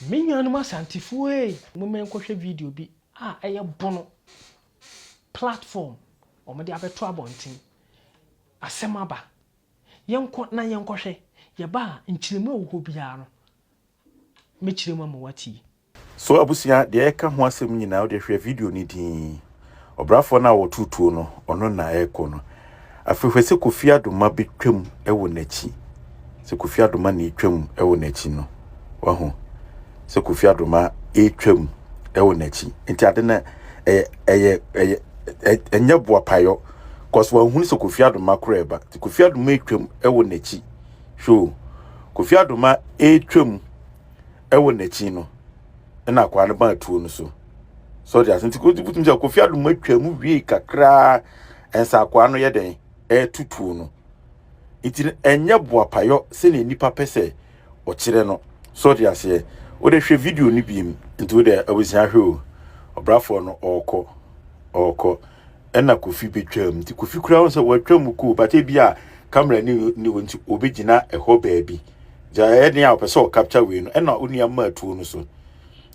Me nuanom Asantefoɔ ei, momma yɛnkɔhwɛ video bi a ɛyɛ Bono platform wɔde abɛto abɔnten. Asɛm aba. Yɛnkɔ na yɛnkɔhwɛ. Yɛba a, nkyerɛmu a ɛwɔ hɔ biara no, mɛkyerɛ mu ama woatie. So abusua deɛ yɛka ho asɛm nyinaa wode hwɛ video no din. Ɔbrafoɔ no a ɔtoo tuo no, ɔno na ɛrekɔ no. Afei hwɛ sɛ Kofi Adoma bɛtwam wɔ n'akyi. Sɛ Kofi Adoma na ɛtwam wɔ n'akyi no, wahu sɛ Kofi Adoma ɛretwam wɔ n'akyi. Nti ade no ɛyɛ ɛyɛ ɛyɛ ɛ- ɛnyɛ boapayɔ cause wahunu sɛ Kofi Adoma koro ɛba. Nti Kofi Adoma ɛtwam wɔ n'akyi. Hwɛ o, Kofi Adoma ɛretwam Ɛwɔ n'akyi no, ɛna akwaa no baa tuo no so. So ɔde ase nti wotumi sɛ Kofi Adum atwa mu wiei kakraa ɛnsa akwaa no yɛ dɛn ɛreto tuo no. Nti no ɛnyɛ boapayɔ sɛnea nnipa pɛ sɛ ɔkyerɛ no. So ɔde aseɛ wode hwɛ video no biem nti wode awusia hwɛ o ɔbrafoɔ no ɔɔkɔ ɔɔkɔ. ɛna kofi betwam nti kofi kura ho sɛ watwa mu koo but ebi a camera ni ni hɔ nti obi gyina ɛhɔ baabi gya ɛyɛ den a ɔpɛ sɛ ɔcapture wei no ɛna onua maa tuo no so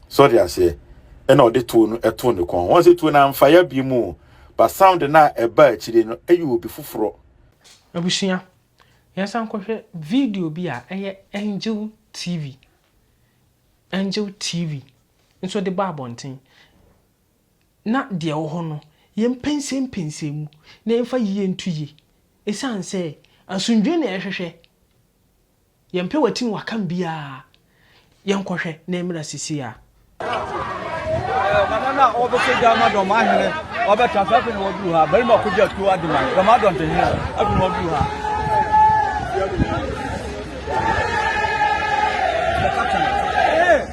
sɔre aseɛ ɛna ɔde tuo no ɛto ne kɔn wɔn sɛ tuo no anfa ya bi mu ba sound no a ɛba akyire no ɛyɛ obi foforɔ. Abusua, yɛnsan nkɔhwɛ video bi a ɛyɛ Angel TV Angel TV nso de bɔ abɔnten. na deɛ ɛwɔ hɔ no, yɛmpɛnsɛmpɛnsɛn mu na yɛmfa yie nto yie, ɛsiane sɛ asomdwoeɛ na yɛhwehwɛ, yɛmpɛ watim wakam biara, yɛnkɔhwɛ na ɛmmra seesei ara. Nana na ɔbɛkɔ gya ama dɔm ahene ɔbɛtra so afei na waduru ha barima kɔgye atuo ade ma dɔm adɔntehene afei na waduru ha Hey!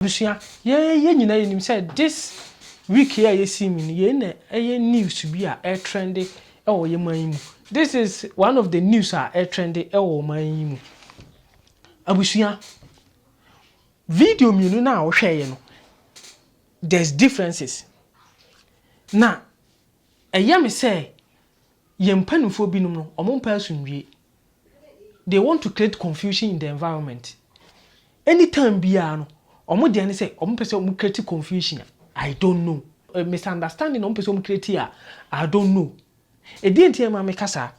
Abusua, yɛn nyinaa yɛ nim sɛ this week yi a yɛsi mu no, yei na ɛyɛ news bi a ɛretrɛnde wɔ yɛn man yi mu. This is one of the news a ɛretrɛnde wɔ ɔman yi mu. Abusua, video mmienu no a wohwɛeɛ no, there's differences. Na ɛyɛ me sɛ yɛn mpanimfoɔ binom no, wɔmpɛ asomdwie. they want to create confusion in the environment any time biara no ɔmo deɛ ne sɛ ɔmo pɛ sɛ ɔmo create confusion a I don't know misunderstanding na ɔmo pɛ sɛ ɔmo create a I don't know ɛdeɛn nti na ɛma meka saa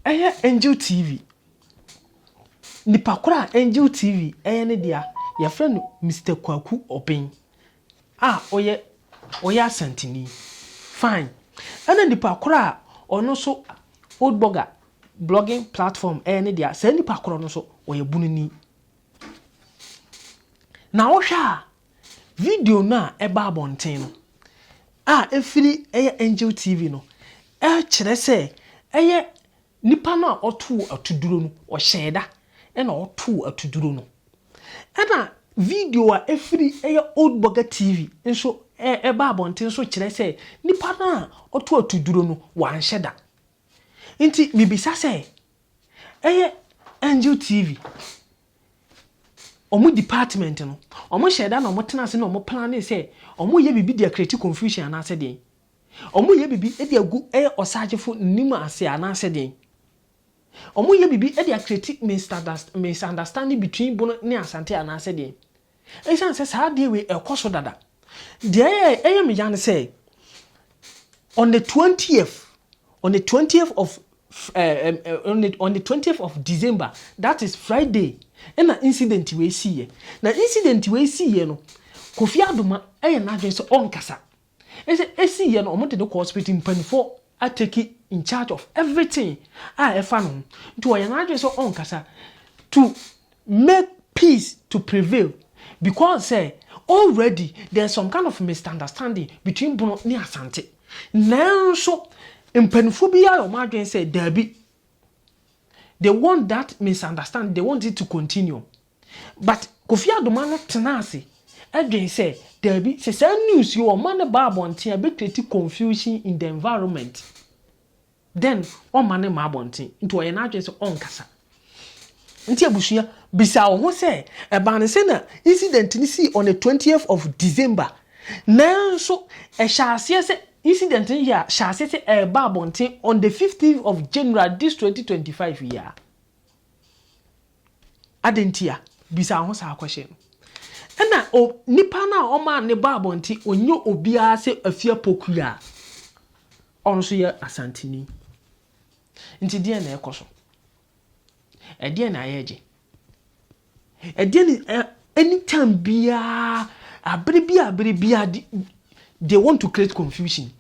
ɛyɛ Angel TV nipa korɔ a Angel TV ɛyɛ ne dea yɛfrɛ no Mister Kwaku Obeng Ah ɔyɛ ɔyɛ asantini fine ɛna nipa korɔ a ɔno nso old blogger blogging platform ɛyɛ ne dea saa nipa korɔ no nso ɔyɛ bununi na wohwɛ a video no a ɛba abɔnten no a ɛfiri ɛyɛ angel tv no ɛkyerɛ sɛ ɛyɛ Nipa no a ɔtoo atuduro no, ɔhyɛɛ da na ɔtoo atuduro no. Ɛna video a ɛfiri ɛyɛ Old Burger TV nso ɛba abɔnten nso kyerɛ sɛ nipa no a ɔtoo atuduro no, wanhyɛ da. Nti mebisa sɛ, ɛyɛ Angel TV, wɔn department no, wɔhyɛɛ da na wɔtenaa ase na wɔplanee sɛ wɔreyɛ biribi de acreate confusion anaasɛ deɛn? Wɔyɛ biribi de agu ɛyɛ ɔsagyefo nim ase anaasɛ deɛn? Wɔyɛ biribi de acreate misunderstanding between Bono ne Asante anaasɛ deɛn? Ɛsiane sɛ saa adeɛ wei ɛkɔ so dada, deɛ ɛyɛ me ya ne sɛ, on the twentieth, on the twentieth of on the twentieth of December, that is Friday, ɛna incident wei siiɛ. Na incident wei siiɛ no, Kofi Adoma ɛyɛ n'adwene sɛ ɔnkasa. Ese esi yɛ no ɔmo de no kɔ hospital mpaninfoɔ a take in charge of everything a ɛfa no ho nti ɔyɛ n'adwene sɛ ɔnkasa to make peace to prevail because sɛ already there's some kind of misunderstanding between Bono ne Asante nanso mpaninfoɔ bi ayɛ ɔmo adwene sɛ daabi they want that misunderstanding they want it to continue. But Kofi Adoma no tena ase dwen sɛ, daabi, sɛ saa news yi ɔma no ba abɔnten a, ɛbɛ create confusion in the environment. Then ɔmma no mma abɔnten. Nti ɔyɛ n'adwene sɛ ɔnkasa. Nti abusua, bisa wo ho sɛ, ɛbaa no sɛ na incident no sii on the 20th of December, nanso ɛhyɛ aseɛ sɛ, incident no yɛ a, hyɛ aseɛ sɛ ɛreba abɔnten on the 15th of January this 2025 yi ara. Adɛn nti a? Bisa wo ho saa kɔhye no. Ɛna o, nipa no a ɔmaa ne bɔ abɔnten, ɔnyɛ obiara sɛ Afia Poku a ɔno nso yɛ Asanteni. Nti deɛn na ɛrekɔ so? Ɛdeɛn na yɛregye? Ɛdeɛn na ɛ, anytime biara, abere biara abere biara, de, they want to create confusion.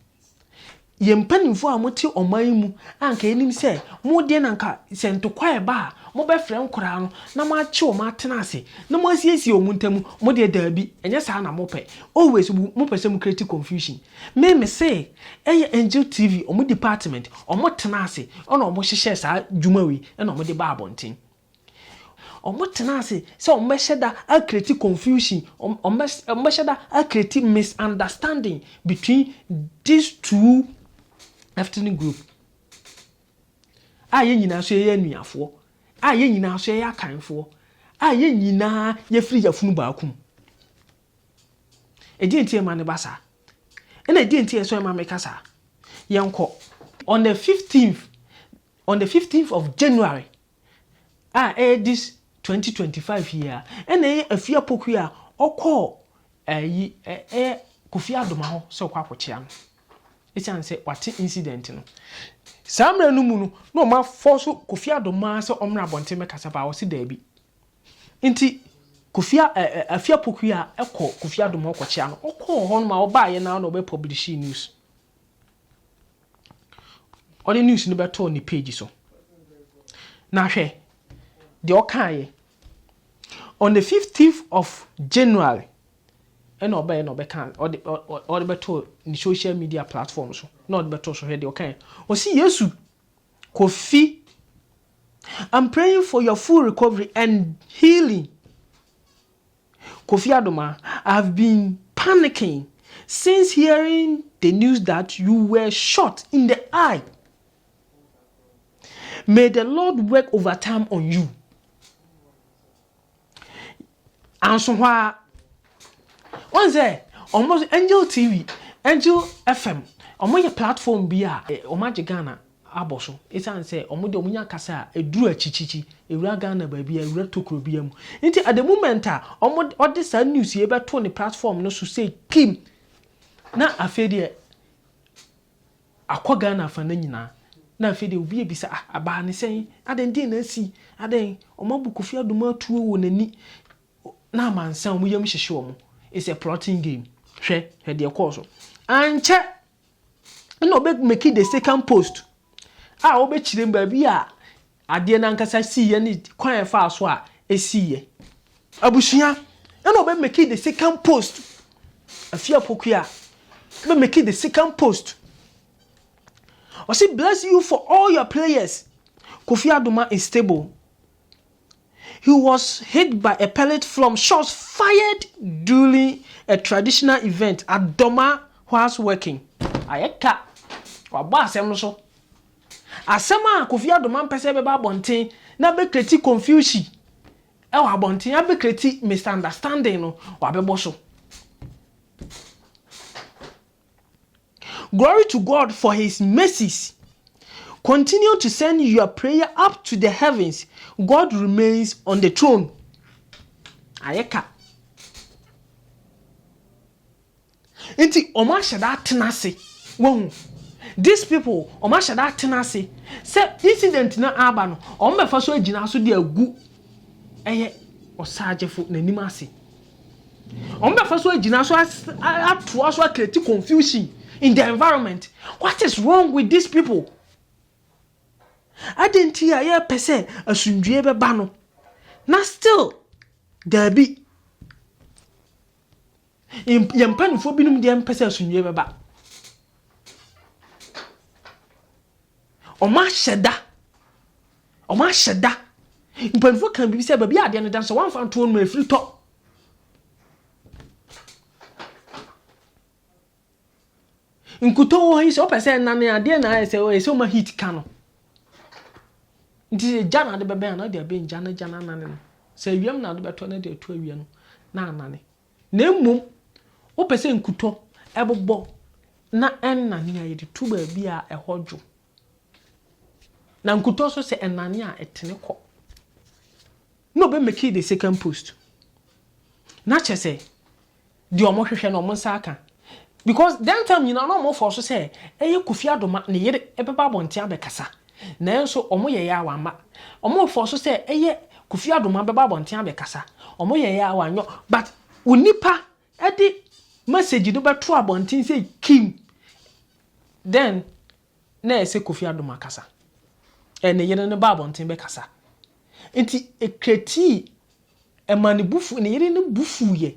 Yɛn mpanimfoɔ a mote ɔman yi mu a anka yɛnim sɛ mo deɛ na anka sɛ ntɔkwa reba a mobɛfrɛ nkwadaa no na moakye wɔn atena ase na moasiesie wɔn ntam, mo deɛ daabi, ɛnyɛ saa na mopɛ. Always mopɛ sɛ mo create confusion. Me mese ɛyɛ Angel TV wɔn department, wɔtena ase na wɔhyehyɛɛ saa dwuma wei na wɔde baa abɔnten. Wɔtenaa ase sɛ wɔbɛhyɛ da acreate confusion, wɔbɛhyɛ da acreate misunderstanding between these two ethnic group a yɛn nyinaa nso yɛyɛ anuafoɔ, a yɛn nyinaa nso yɛyɛ Akanfoɔ, a yɛn nyinaa yɛfiri yafunu baako mu. Ɛdeɛ nti ɛma no ba saa? Ɛna ɛdeɛ nti ɛsɔ ɛma meka saa? Yɛnkɔ. On the 15th, On the fifteenth of January a ɛyɛ this twenty twenty five yi a ɛna ɛyɛ Afie Apoku a ɔkɔɔ ɛyi ɛyɛ Kofi Adoma hɔ sɛ ɔkɔ akɔkyea no esiane sɛ wate incident no saa mmerɛ no mu no na wɔn afɔɔso Kofi Adoma sɛ ɔmmra abɔnten mmɛkasa baa ɔse daabi nti Kofi ɛ ɛ Afie Apoku a ɛkɔ Kofi Adoma ɔkɔkyea no ɔkɔɔ hɔ nom a ɔbaeɛ no ara na ɔbɛ publish news. Ɔde news no bɛtoo ne page so. Na hwɛ deɛ ɔkaeɛ. On the 15th of January ɛna ɔbɛyɛ na ɔbɛka ɔde ɔde bɛtoo ne social media platform so na ɔde bɛtoo so hwɛ deɛ ɔkaeɛ. Ɔsi Yesu Kofi I'm praying for your full recovery and healing. Kofi Adomah, I have been panicking since hearing the news that you were shot in the eye. May the Lord work overtime on you. Anso hɔ a, wɔn sɛ wɔn Angel TV, Angel FM, wɔn yɛ platform bi a wɔn agye Ghana. abɔ so esiane sɛ wɔn deɛ wɔnya kasa a ɛduru akyikyikyi, ɛwura Ghana baabi a, ɛwura tokuro biara mu. Nti at the moment a wɔde wɔde saa news yei bɛtoo ne platform no so sei pim na afei deɛ akɔ Ghana afa no nyinaa na afei deɛ obi abisa ah abaa ne sɛn, adɛn deɛn na asi, adɛn wɔn abu Kofi Adumo atuo wɔ n'ani na amansan wɔn yam hyehye wɔn, it's a plotting game, hwɛ hwɛ deɛ ɛkɔɔ so. Ankyɛ. Ɛna ɔbɛ make the second post a ɔbɛkyerɛ mu baabi a adeɛ no ankasa siiɛ ne kwan a ɛfaa so a ɛsiiɛ. Abusua, ɛna ɔbɛ make the second post. Afia Apokua, ɔbɛ make the second post. Ɔse bless you for all your players. Kofi Adoma is stable. He was hit by a pellet from shots fired during a traditional event at Doma whilst working. Ayɛ ka, wabɔ asɛm no so. Asɛm a Kofi Adoma mpɛ sɛ ɛbɛba abɔnten na bɛkreti konfiusi wɔ abɔnten, abɛkreti misunderstanding no, wabɛbɔ so. Glory to God for his mercies continue to send your prayer up to the heavens God remains on the throne ayɛ ka nti ɔmo ahyɛ da atena ase wɔn these people ɔmo ahyɛ da atena ase sɛ incident na aba no ɔmo bɛfa so agyina so de agu ɛyɛ ɔsaagyefo n'anim ase. Wɔbɛfa so agyina so atoa so akreti confusion in the environment. What is wrong with these people? Adɛn nti a yɛpɛ sɛ asomdwoeɛ bɛba no na still daabi. Yɛn mpanimfoɔ binom deɛ mpɛ sɛ asomdwoeɛ bɛba. Wɔahyɛ da Wɔahyɛ da. Mpanyimfo ka biribi sɛ baabi a adeɛ no da no sɛ wɔamfa anto hɔ no a afiri tɔ. Nkutoo wɔ ha yi sɛ wopɛ sɛ ɛnane a adeɛ na ayɛ sɛ ɛyɛ sɛ woma heat ka no. Nti sɛ gya na ade bɛbɛn a na ɔde abɛn gya na gya no anane no. Sɛ awiam na ade bɛtɔ na de ato awia no na anane. Na mmom wopɛ sɛ nkutɔ ɛbobɔ na ɛnnane a yɛde to baabi a ɛhɔ dwo. Na nkutoo so sɛ ɛnane a, ɛtene kɔ. Na ɔbɛ make the second post. Na kyerɛ sɛ, deɛ wɔhwehwɛ no wɔn nsa aka. Because that time nyinaa na wɔfɔɔ so sɛ ɛyɛ Kofi Adoma ne yere ɛbɛba abɔnten abɛkasa. Nanso wɔyɛeɛ a wɔamma. Wɔfɔɔ so sɛ ɛyɛ Kofi Adoma bɛba abɔnten abɛkasa. Wɔyɛeɛ a wɔanyɔ. But onipa de message no bɛto abɔnten sɛ Kim then na ɛsɛ Kofi Adom akasa and ne yere no ba abɔnten bɛkasa nti ɛcreatii ɛma ne bo fu ne yere no bo fuiɛ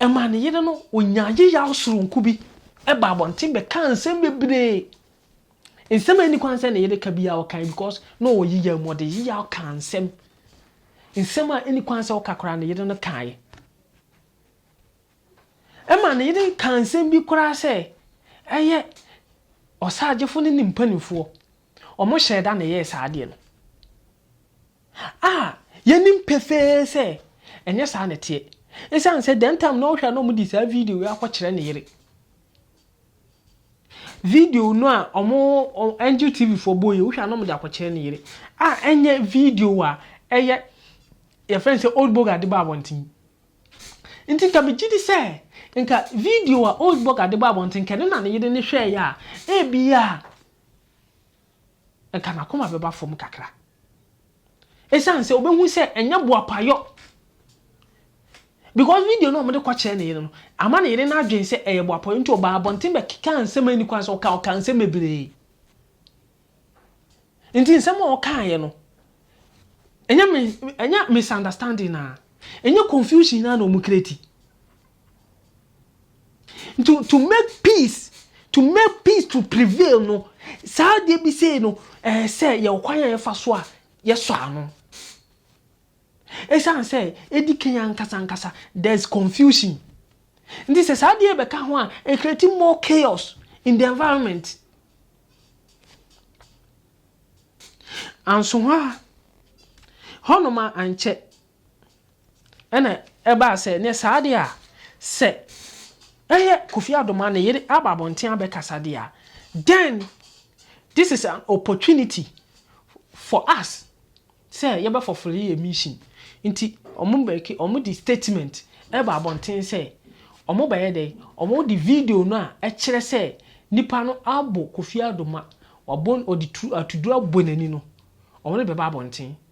ɛma ne yere no ɔnyaa yeyaw soronko bi ɛba abɔnten bɛkaa nsɛm bebree Nsɛm a enni kwan sɛ ne yere ka biara ɔkae because na ɔwɔ yiyao mu, ɔde yiyao kaa nsɛm. Nsɛm a enni kwan sɛ ɔka koraa ne yere no kae. Ɛma ne yere kaa nsɛm bi koraa sɛ ɛyɛ ɔsagyefo ne ne mpanimfoɔ, wɔhyɛɛ da na ɛyɛɛ saa adeɛ no. A yɛnim pefee sɛ ɛnyɛ saa na ɛteɛ. Esiane sɛ that time na ɔhwɛ a na wɔde saa video yi akɔkyerɛ ne yere. Video no a ɔmo Angel TV foɔ bɔ yi, wohwɛ a na ɔmo de akɔkyerɛ ne yere a ɛnyɛ video a ɛyɛ yɛfrɛ no sɛ Old Boga de ba abɔnten. Nti nka megye di sɛ nka video a Old Boga de ba abɔnten nka ɛno na ne yere no hwɛɛeɛ a, ebia anka n'akoma bɛba fam kakra. Esiane sɛ obehu sɛ ɛnyɛ boapayɔ. Because video no a wɔde kɔkyerɛ ne yere no ama ne yere no adwene sɛ ɛyɛ boapayɔ nti ɔbaa abɔnten bɛkekaa nsɛm a enni kwan sɛ ɔka, ɔkaa nsɛm bebree. Nti nsɛm a ɔkaeɛ no, ɛnyɛ ɛnyɛ misunderstanding a, ɛnyɛ confusion ara na wɔkreati. To to make peace to make peace to prevail no saa adeɛ bi sei no ɛɛ sɛ yɛwɔ kwan a yɛfa so a yɛsɔ ano ɛsiane sɛ ɛdi kan ankasa ankasa there is confusion nti sɛ saa adeɛ bɛka ho a it create more chaos in the environment anso hɔ a hɔnom a ankyɛ Ɛna ɛbaa sɛ, neɛ saa deɛ a, sɛ ɛyɛ Kofi Adomaa ne yere aba abɔnten abɛkasa deɛ a, then this is an opportunity for us sɛ yɛbɛfɔfole yɛn mission. Nti wɔn bɛke, wɔn de statement ɛbaa abɔnten sɛ, wɔn bɛyɛ dɛn, wɔn de video no a ɛkyerɛ sɛ nipa no abɔ Kofi Adoma, wabɔ, ɔde tu, atuduro abɔ n'ani no, wɔn de bɛba abɔnten.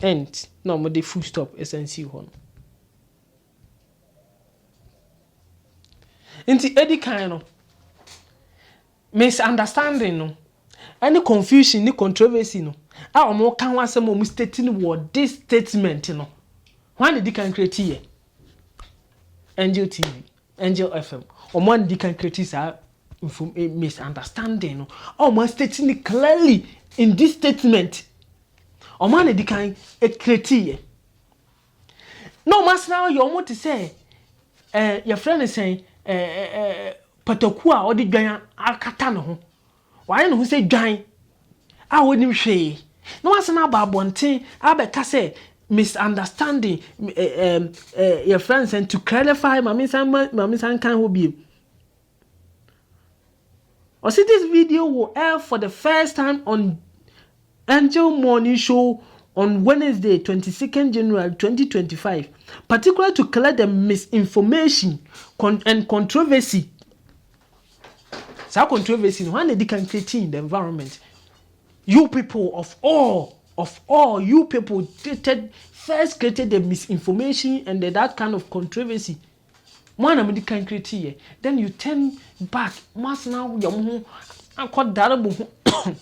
Ent na ɔmo de full stop san sii hɔ no. Nti edi kan no, misunderstanding no, ɛne confusion ne controversy no a ɔmo ka ho asɛm a ɔmo state no wɔ this statement no, hwan na edi kan create yɛ? Angel TV. Angel FM, wɔn a na di kan create saa mfom misunderstanding no, a wɔn a state no clearly in this statement, wɔn a na di kan create yɛ, na wɔn asena ayɛ wɔn te sɛ eh, yɛfrɛ no sɛn eh, eh, eh, pataku a ɔde dwan akata ne ho. Wayɛ ne ho sɛ dwan a ɔnnim hwee na wasan aba abɔnten abɛka sɛ misunderstanding, yɛfrɛ no sɛn, to clarify, ma mensan nkan hɔ bio. Ɔse this video will air for the first time on Angel Morning Show on Wednesday, 22nd January 2025, particularly to clear the misinformation and controversy. Saa controversy no hwan na edi kan create in the environment? You people of all of all you people created first created the misinformation and the, that kind of controversy. Mo ana mo di kan create yɛ. Then you turn back mo asena yɛ mo ho akɔ dare mo ho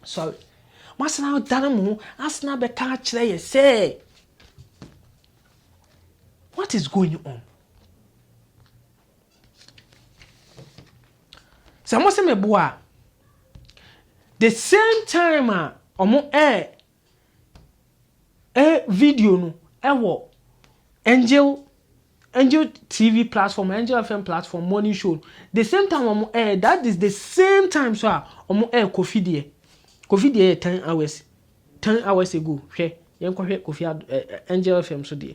sorry mo asena dare mo ho asena bɛka akyerɛ yɛ sɛ what is going on? Sɛ mose meboa a, the same time a ɔmo ɛɛ ɛ video no ɛwɔ Angel Angel TV platform, Angel FM platform, morning show. The same time ɔmo ɛɛ that is the same time so a ɔmo ɛɛ Kofi deɛ. Kofi deɛ yɛ ten hours ten hours ago hwɛ yɛn kɔhwɛ Kofi Angel FM so deɛ.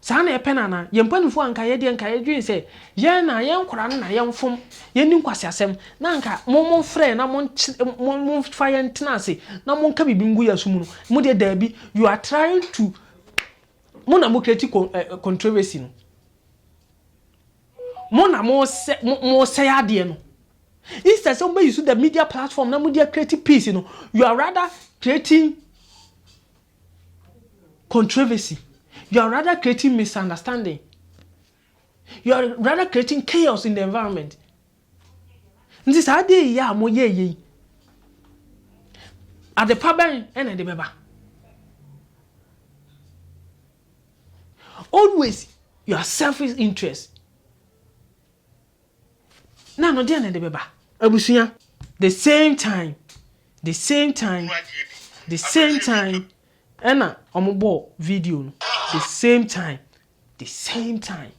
Saa na ɛpɛ no anaa? Yɛn mpanimfoɔ anka yɛn deɛ anka yɛdwene sɛ yɛn na yɛn nkwadaa no na yɛmfom, yɛnni nkwaseasɛm, na anka mo momfrɛ na momfa yɛn ntena ase na monka biribi ngu yɛn so mu no, mo deɛ daabi, you are trying to, mo na mo create controversy no, mo na mosɛe adeɛ no, instead sɛ mobɛyi so the media platform na mode create peace no, you are rather creating controversy, you are rather creating misunderstanding, you are rather creating chaos in the environment. Nti saa adeɛ yi a mo yɛ yei, adepa bɛn ɛna ɛde bɛba? Always your selfish interest. Na no deɛ na ɛde bɛba. Abusua. The same time the same time the same time ɛna ɔmo bɔɔ video no the same time the same time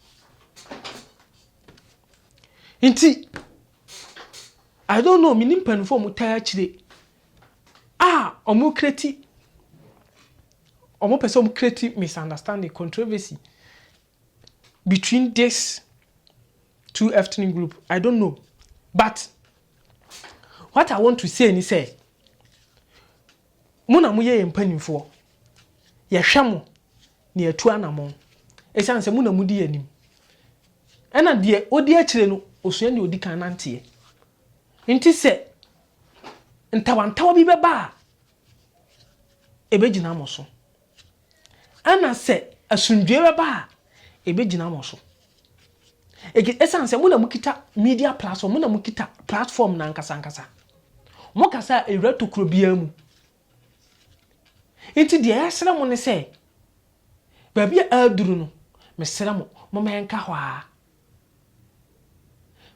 nti I don't know menim mpanimfoɔ ɔmo taa akyire a ɔmo kreti ɔmo pɛ sɛ ɔmo kreti misunderstanding controversy between this two ethnic group I don't know but what I want to say ni sɛ mo na mo yɛ yɛn mpanimfoɔ yɛhwɛ mo na yɛtu anamɔn ɛsiane sɛ mo na mo di yɛn anim ɛna deɛ odi akyire no osua deɛ odi kan nanteɛ nti sɛ ntawantawa bi bɛba a ɛbɛgyina mo so. Ɛna sɛ asomdwoeɛ bɛba a, ɛbɛgyina mo so. Ege, ɛsiane sɛ mo na mokita media platform, mo na mokita platform no ankasa ankasa. Mokasa a, ɛwura tokuro biara mu. Nti deɛ yɛsrɛ mo ne sɛ, baabi a aduru no, mesrɛ mo, momma yɛnka hɔ ara.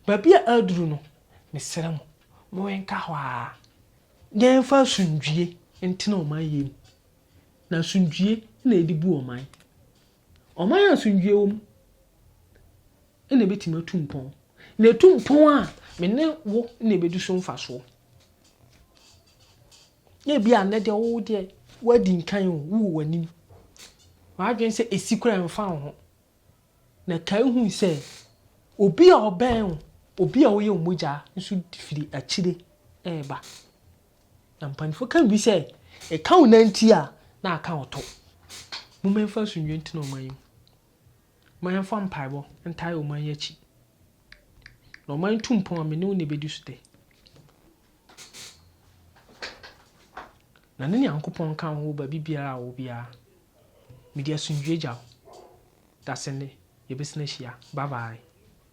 Baabi a aduru no, mesrɛ mo, momma yɛnka hɔ ara, na yɛmfa asomdwoeɛ ntena ɔman yei mu. na asomdwoeɛ na yɛde bu ɔman. Ɔman a asomdwoeɛ wɔ mu na ɛbɛtumi atu mpɔn. Na ɛtu mpɔn a, me ne wo na ɛbɛdi so mfasoɔ. Na ebi a nnɛ deɛ wo deɛ woadi nkan o, wowɔ w'anim. W'adwene sɛ ɛsi koraa ɛmfa wo ho. Na kae hu sɛ obi a ɔbɛn wo, obi a woyɛ wo mogya nso firi akyire reba. Na mpanyimfo ka bi sɛ, Ɛka wo nan nti a, na aka wo to. Momma yɛmfa asomdwoe ntena ɔman yi mu. Momma yɛmfa mpaebɔ ntae ɔman yi akyi. Na ɔman yi tu mpɔn a, me ne wo na ebedi so dɛ. Na ne Nyankopɔn nka wo wɔ baabi biara a ɔwɔ biara. Mede asomdwoe gya wo. Dasenne, yɛbɛsan ahyia. Bye bye.